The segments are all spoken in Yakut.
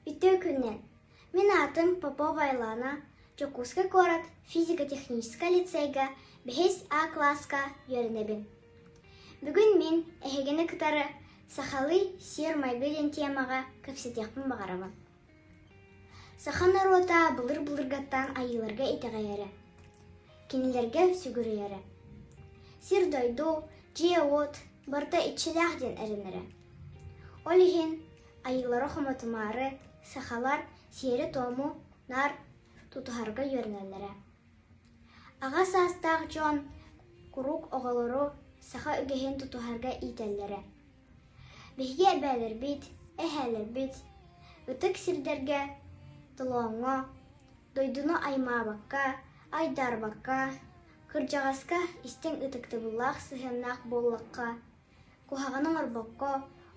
Ити күннэн мин аатым Попова Айлана, Дьокуускай куорат физико-техническэй лицейгэ бэһис А класска үөрэнэбин. Бүгүн мин эһигини кытары сахалыы сиэр-майгы диэн тиэмэҕэ кэпсэтиэхпин баҕарабын. Саха норуота былыр-былыргаттан айыыларга итэҕэйэрэ, кинилэргэ сүгүрүйэрэ. Сир-дойду, дьиэ-уот барыта иччилээх диэн эрэнэрэ. Ол иһин айыылары-хомотумаары сахалар сиэри-туому наар тутуһарга үөрэнэллэрэ. Аҕа саастаах дьон куруук оҕолору саха үгэһин тутуһарга иитэллэрэ. Биһиги эбээлэрбит, эһээлэрбит ытык сирдэргэ толооҥҥо, дойдуну аймаабакка, айдаарбакка, кырдьаҕаска истиҥ ытыктабыллаах сыһыаннаах буоллахха Куһаҕаны оҥорбокко,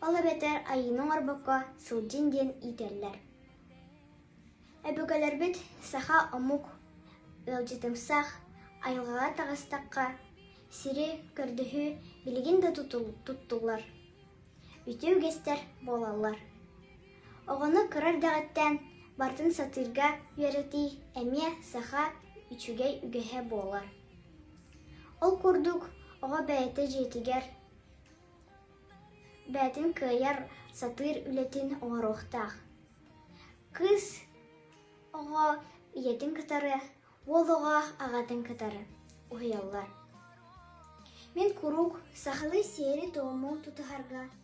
ол эбэтэр айыыны оҥорбокко сылдьын диэн иитэллэр. Өбүгэлэрбит саха омук ыалдьытымсах, айылҕаҕа таҕыстахха, сири, көрдөһүү билигин да туттуллар, үтүө үгэстэр буолаллар. Оҕону кыра эрдэҕиттэн барытын сатыырга үөрэтии эмиэ саха үчүгэй үгэһэ буолар. Ол курдук оҕо бэйэтэ дьиэтигэр бэйэтин кыайар, сатыыр үлэтин оҥоруохтаах. Кыыс оҕо ийэтин кытары, уол оҕо аҕатын кытары уһуйаллар. Мин куруук сахалыы сиэри-туому тутуһарга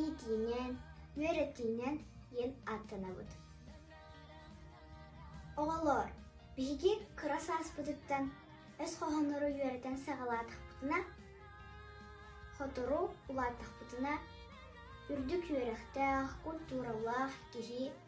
иитиинэн, үөрэтиинэн диэн ааттанабыт. Оҕолор, биһиги кыра сааспытыттан өс хоһооннору үөрэтэн саҕалаатахпытына, сотору улааттахпытына, үрдүк үөрэхтээх, культуралаах киһи